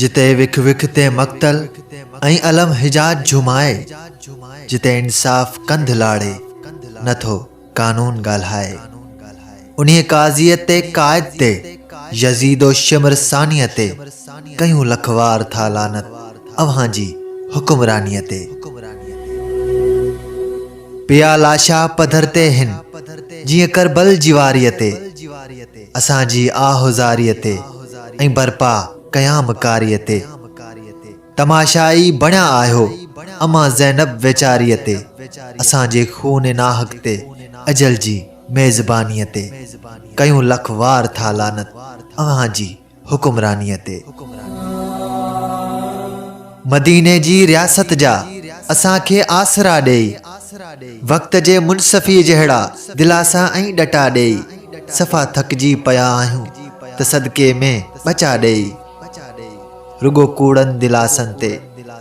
جتي وک وک تي مقتل ۽ الم حجاج جهومائي، جتي انصاف ڪنڌ لاڙي نه ٿو قانون ڳالهائي، انهيء قاضيء تي قائد تي يزيد و شمر ثانيء تي ڪيون لک وار ٿا لعنت اوهان جي حڪمرانيء تي. پيا لاشا پڌر تي هن، جيئن ڪربل جي واريء تي، اسان جي آهه زاريء تي ۽ برپا قيام ڪاريء تي. تماشائي بڻيا آهيو امان زينب ويچاريء تي، اسان جي خون ناحق تي، اجل جي ميزبانيء تي. ڪيون لک وار ٿا لعنت اوهان جي. حڪمرانيء تي. مديني جي رياست جا اسان کي آسرا ڏئي، وقت جي منصفيء جهڙا دلاسا ۽ ڏٽا ڏئي، صفا ٿڪجي پيا آهيون ته صدقي ۾ ٻچا ڏئي. رڳو ڪوڙن دلاسن تي،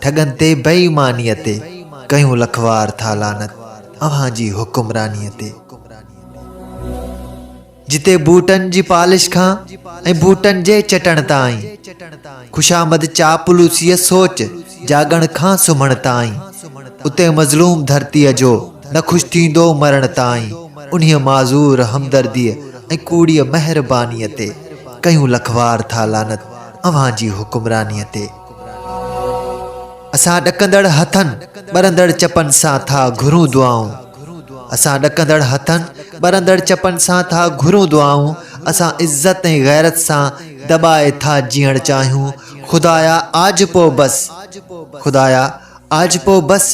ٺڳن تي، بي ايمانيء تي ڪيون لکوار ٿا لعنت اوهان جي حڪمرانيء تي. جتي بوٽن جي پالش کان ۽ بوٽن جي چٽڻ تائين، خوشامد چاپلوسيء سوچ جاڳڻ کان سمهڻ تائين، اتي مظلوم ڌرتيء جو نه خوش ٿيندو مرڻ تائين، انهيء معذور همدرديء ۽ ڪوڙيء مهربانيء تي ڪيون لک وار ٿا لعنت اوهان جي حڪمرانيء تي. اسان ڏڪندڙ هٿن، ٻرندڙ چپن سان ٿا گهرون دعائون اسان ڏڪندڙ هٿن، ٻرندڙ چپن سان ٿا گهرون دعائون اسان عزت ۽ غيرت سان دٻائي ٿا جيئڻ چاهيون خدايا آجپو بس خدايا آجپو بس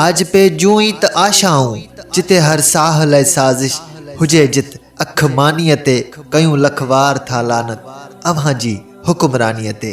آجپي جون ئي ته آشائون جتي هر ساهه لئه سازش هجي جت اک مانيء تي ڪيون لک وار ٿا لعنت اوهان جي حڪمرانيء تي.